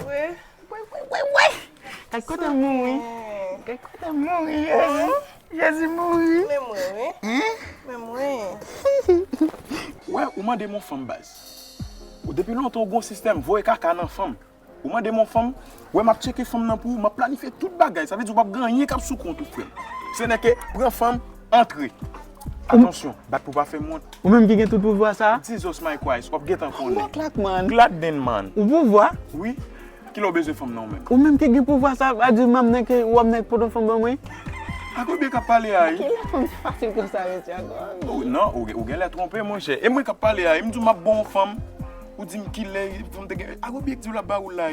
Wè wè wè wè wè. Gad kote mouri. Gad kote mouri jezi. Jezi mouri. Men mwen wè. Men mwen. Wè ou mande mon fanm baz. Ou depi lontan ou gon sistèm voye kaka nan fanm. Ou mande mon fanm. Wè map tcheke fanm nan pou ou map planifye tout bagay. Sa vle di ou pap gen anyen kap sou kont ou frèm. Se nèke pran fanm. Antre! Atansyon, bat pou pa fè mont. Ou menm ki gen tout pouvwa sa? Jesus my Christ, wap gentan konnen. Kouman klak man? Klak den man. Ou pouvwa? Wi. Kilè w bezwen fanm nan ou menm? Ou menm ki gen pouvwa sa, pa di man nan ke ou ap nèk poto fanm ban mwen. Ak ou byen kap pale a? Ki lè fanm te fasil konsa mesye Antoine? Ou nan, ou genlè twonpe monchè. E mwen kap pale a? E m di w map bon fanm, ou di m kilè fanm te gen. Ak ou byen k di w lap ba ou la?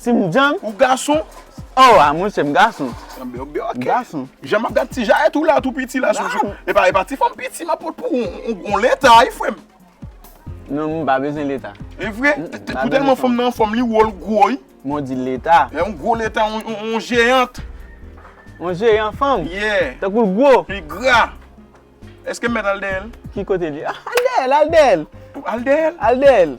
Si m djanm. Ou gason. Oh a mwen se m gason. Anben ok. M gason. Jan m ap gad ti jaèt ou la tou piti la. Nan. E pa e pa ti fanm piti m ap pot pou ou. Ou leta wi frè m. Non m pa bezwen leta. E vre? M pa bezwen fanm. Pou tèlman fanm nan an fòm li wòl gwo wi. M on di leta. E yon gwo leta yon jeyant. Yon jeyant fanm? Yeah. Tankou l gwo. Li gra. Eske m mèt al dèyè l? Ki kote li? Al dèyè l al dèyè l. Al dèyè l? Al dèyè l.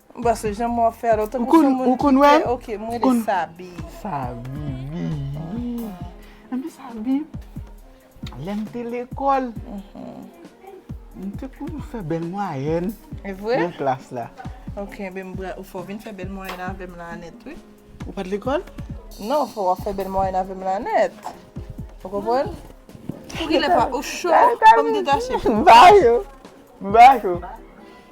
M panse jan mwen fè la ou tankou son moun ki fè ok m rele sabi. Sabi wi Ebyen sabi lè m te lekòl m te konn fè bèl mwayèn nan klas la. Ok ebyen m pral ou fè w vin fè bèl mwayèn avè m la nèt wi. Ou pat lekòl? Non fò wap fè bèl mwayèn avè m la nèt ou konprann. Pou kilè pa ou cho fò m detache pou ou. M ba yo. M ba yo.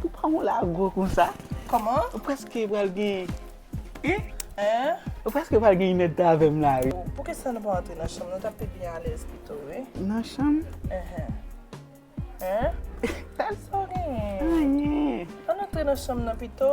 Pou pa ou la gwo konsa. Koman? Ou preske pral gen yn. Hein? Ou preske pral gen yn nèt avèm la wi. Pou kisa nou pa antre nan chanm nou tap pi byen alèz pito wi. Nan chanm? Ehe. Hein? Sa ou genyen? Anyen. Ann antre nan chanm nan pito.